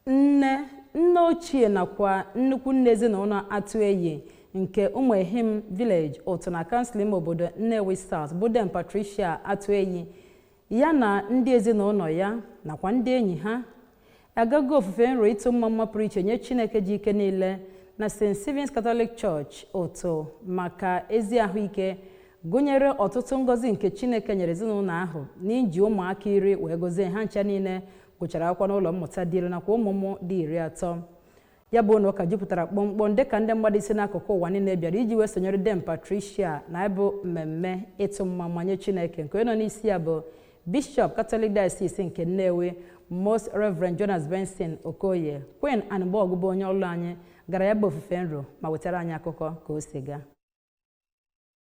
Nne, nne ochie nakwa nnukwu nne ezinụlọ Atueyi nke Umuehim Village Utuh na kansụl ime obodo Nnewi South bụ Dame Patricia Atueyi ya na ndị ezinụlọ ya nakwa ndị enyi ha agago ofufe nro ịtụ mmamma pụrụ iche nye Chineke ji ike niile na St. Stephen's Catholic Church Utuh maka ezi ahụike gụnyere ọtụtụ ngọzi nke Chineke nyere ezinụlọ ahụ n'iji ụmụaka iri wee gozie ha ncha niile gụchara akwụkwọ n'ụlọ mmụta dị elu nakwa ụmụ ụmụ dị iri atọ ya bụ ụnọ ụka jupụtara kpọmkpọm dịka ndị mmadụ si n'akụkụ ụwa niile bịara iji wee sonyere dame patricia na ya bụ mmemme ịtụ mmamma nye chineke nke onye nọ n'isi ya bụ bishọp katọlik diocese nke nnewi most reverend jonas benson okoye queen anigbogu bụ onye ọlụ anyị gara ya bụ ofufe nro ma wetara anyị akụkọ ka o si gaa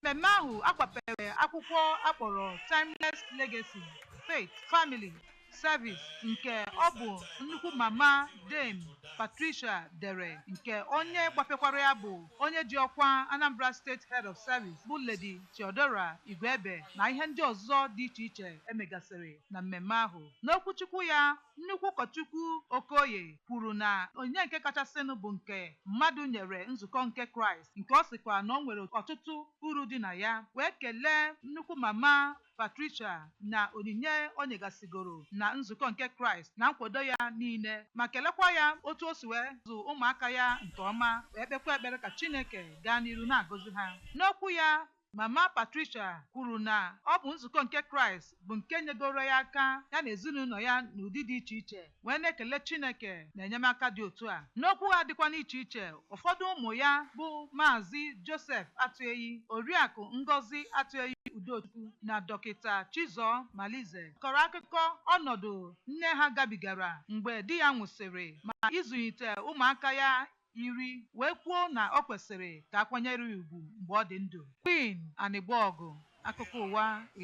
Mmemme ahụ a gbapere akwụkwọ a kpọrọ Timeless Legacy, Faith, Family, Service nke ọ bụ nnukwu mama Dame Patricia dere nke onye gbapekwara ya bụ onye ji ọkwa Anambra State Head of Service bụ Lady Theodora Igwegbe na ihe ndị ọzọ dị iche iche e megasịrị na mmemme ahụ. N'okwuchukwu ya Nnukwu ụkọchukwu Okoye kwuru na onyinye nke kachasịnụ bụ nke mmadụ nyere nzukọ nke Kraịst nke ọ sịkwa na o nwere ọtụtụ uru dị na ya wee kelee nnukwu mama Patricia na onyinye o nyegasịgoro na nzukọ nke Kraịst na nkwado ya niile ma kelekwa ya otu o si wee zụ ụmụaka ya nke ọma wee kpekwa ekpere ka Chineke gaa n'iru na-agọzi ha. N'okwu ya Mama Patricia kwuru na ọ bụ nzukọ nke Kraịst bụ nke nyegoro ya aka ya na ezinụlọ ya n'ụdị dị iche iche wee na-ekele Chineke na enyemaka dị otu a. N'okwu ha dịkwa n'iche iche, ụfọdụ ụmụ ya bụ Maazị Joseph Atueyi, Oriakụ Ngozi Atueyi Udochukwu na Dọkịta Chizor Malize kọrọ akụkọ ọnọdụ nne ha gabigara mgbe di ya nwụsịrị ma ịzụlite ụmụaka ya iri wee kwuo na o kwesịrị ka a kwanyere ya ugwu mgbe ọ dị ndụ. Queen Anigbogu, Akụkọ Ụwa, Ib.